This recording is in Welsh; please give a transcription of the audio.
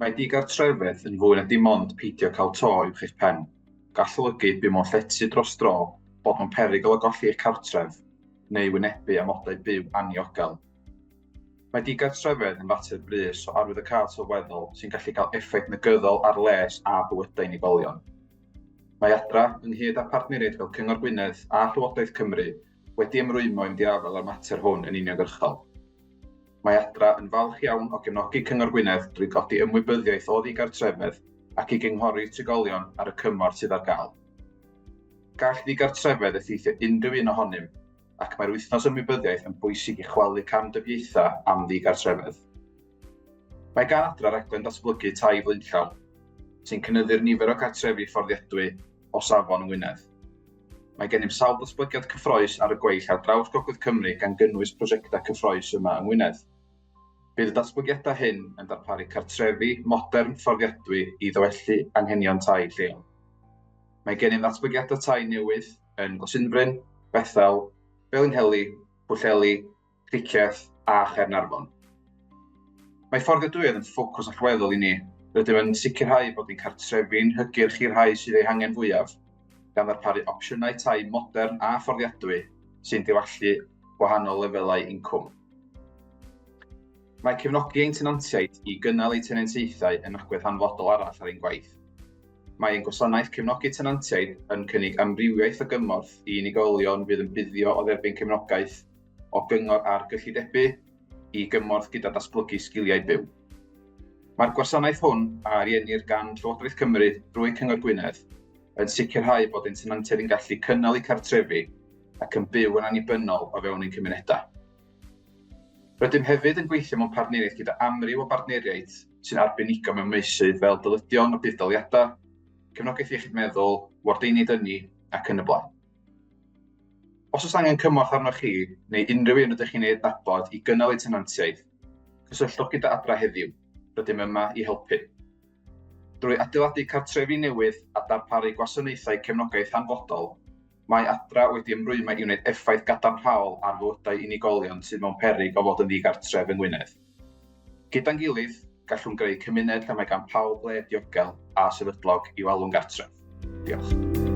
Mae digartrefedd yn fwy na dim ond peidio cael to uwch eich pen. Gall olygu byw mewn llety dros dro, bod mewn perygl o golli eich cartref, neu wynebu amodau byw anniogel. Mae digartrefedd yn fater brys o arwyddocâd sylweddol sy'n gallu cael effaith negyddol ar les a bywydau unigolion. Mae Adra, ynghyd â phartneriaid fel Cyngor Gwynedd a Llywodraeth Cymru, wedi ymrwymo i fynd i afael â'r mater hwn yn uniongyrchol. Mae Adra yn falch iawn o gefnogi Cyngor Gwynedd drwy godi ymwybyddiaeth o ddigartrefedd ac i gynghori trigolion ar y cymorth sydd ar gael. Gall ddigartrefedd effeithio unrhyw un ohonym, ac mae'r Wythnos Ymwybyddiaeth yn bwysig i chwalu camdybiaethau am ddigartrefedd. Mae gan Adra raglen ddatblygu tai flaenllaw, sy'n cynyddu'r nifer o gartrefi fforddiadwy o safon yng Ngwynedd. Mae gennym sawl datblygiad cyffroes ar y gweill ar draws Gogledd Cymru gan gynnwys prosiectau cyffroes yma yng Ngwynedd. Bydd y datblygiadau hyn yn darparu cartrefi modern fforddiadwy i ddywellu anghenion tai lleol. Mae gennym ddatblygiadau tai newydd yn Glasinfryn, Bethel, Felinheli, Pwllheli, Cricieth a Chaernarfon. Mae fforddiadwyedd yn ffocws allweddol i ni. Rydym yn sicrhau bod ein cartrefi'n hygyrch i'r rhai sydd eu hangen fwyaf, gan ddarparu opsiynau tai modern a fforddiadwy sy'n diwallu gwahanol lefelau incwm. Mae cefnogi ein tenantiaid i gynnal eu tenantiaethau yn agwedd hanfodol arall ar ein gwaith. Mae ein gwasanaeth cefnogi tenantiaid yn cynnig amrywiaeth o gymorth i unigolion fydd yn buddio o dderbyn cefnogaeth o gyngor ar gyllidebu i gymorth gyda datblygu sgiliau byw. Mae'r gwasanaeth hwn a ariennir gan Llywodraeth Cymru drwy Cyngor Gwynedd yn sicrhau bod ein tenantiaid yn gallu cynnal eu cartrefi ac yn byw yn annibynnol o fewn ein cymunedau. Rydym hefyd yn gweithio mewn partneriaeth gyda amryw o bartneriaid sy'n arbenigo mewn meysydd fel dyledion a budd-daliadau, cefnogaeth iechyd meddwl, wardeiniaid ynni ac yn y blaen. Os oes angen cymorth arnoch chi neu unrhyw un rydych chi'n ei adnabod i gynnal eu tenantiaeth, cysylltwch gyda Adra heddiw, rydym yma i helpu. Drwy adeiladu cartrefi newydd a darparu gwasanaethau cefnogaeth hanfodol, mae Adra wedi ymrwymo i wneud effaith gadarnhaol ar fywydau unigolion sydd mewn peryg o fod yn ddigartref yng Ngwynedd. Gyda'n gilydd, gallwn greu cymuned lle mae gan pawb le diogel a sefydlog i'w alw'n gartref. Diolch.